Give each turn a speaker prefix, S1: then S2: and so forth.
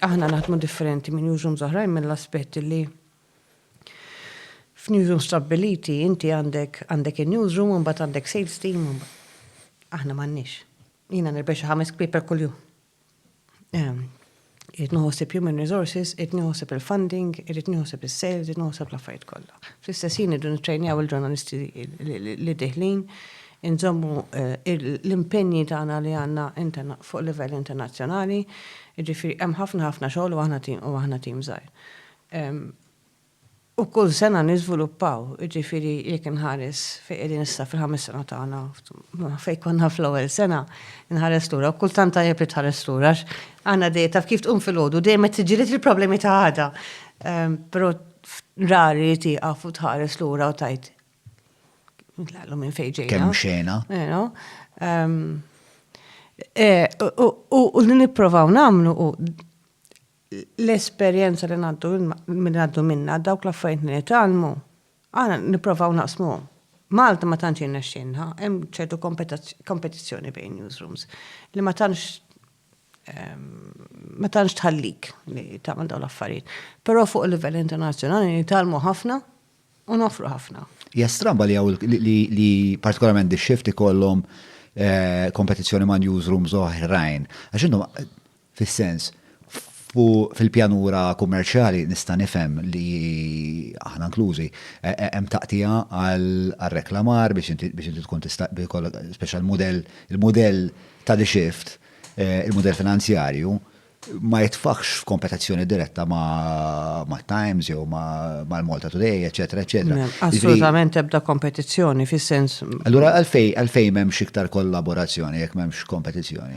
S1: Aħna naħdmu differenti minn newsrooms oħrajn mill-aspett illi f'newsrooms stabbiliti inti għandek għandek in-newsroom u mbagħad għandek sales team u aħna m'għandniex. Jiena nirbeh xi ħames kpieper kuljum. Irid nieħu ħsieb human resources, irid nieħu ħsieb il-funding, irid nieħu ħsieb is-sales, irid nieħu ħsieb l-affarijiet kollha. Fl-istess ħin irridu nittrejnjaw il-ġurnalisti li dieħlin, inżommu l-impenji tagħna li għandna fuq livell internazzjonali, jiġifieri hemm ħafna ħafna xogħol u aħna tim żgħir. U kull sena niżviluppaw, jiġifieri jekk inħares fejn qegħdin issa fil-ħames sena tagħna, fejn konna fl-ewwel sena, inħares lura u kultant tajjeb li tħares lura għax għandna dejjem taf kif tqum filgħodu dejjem qed tiġġieled il-problemi ta' għada. Però rari li tieqaf u tħares lura u tgħid Ntlaqlu minn fejn ġejna. Kemm xena. Ehm, eh, u li nipprovaw nagħmlu u l-esperjenza li ngħaddu minn għaddu minna dawk l-affarijiet li nitalmu, għana nipprovaw naqsmu. Malta ma tantx jirnexxinha, hemm ċertu kompetizzjoni bejn newsrooms li ma tantx ehm, ma tantx tħallik li tagħmel dawn l-affarijiet. Però fuq il-livell internazzjonali nitalmu ħafna u nofru ħafna. Hija stramba li hawn
S2: li partikolarment di shift ikollhom eh, kompetizzjoni ma' newsrooms oħrajn. Għax intom fis-sens fil-pjanura kummerċjali nista' nifhem li aħna inklużi eh, eh, hemm taqtija għal reklamar biex inti tkun tista' speċjal mudell il-mudell ta' di shift il-mudell finanzjarju ma jitfaħx f'kompetizzjoni diretta ma' Times jew mal Malta Today, eċetera, eċetera. Assolutament ebda
S1: kompetizzjoni fis-sens.
S2: Allura għalfej għalfej m'hemmx iktar kollaborazzjoni jekk
S1: m'hemmx
S2: kompetizzjoni.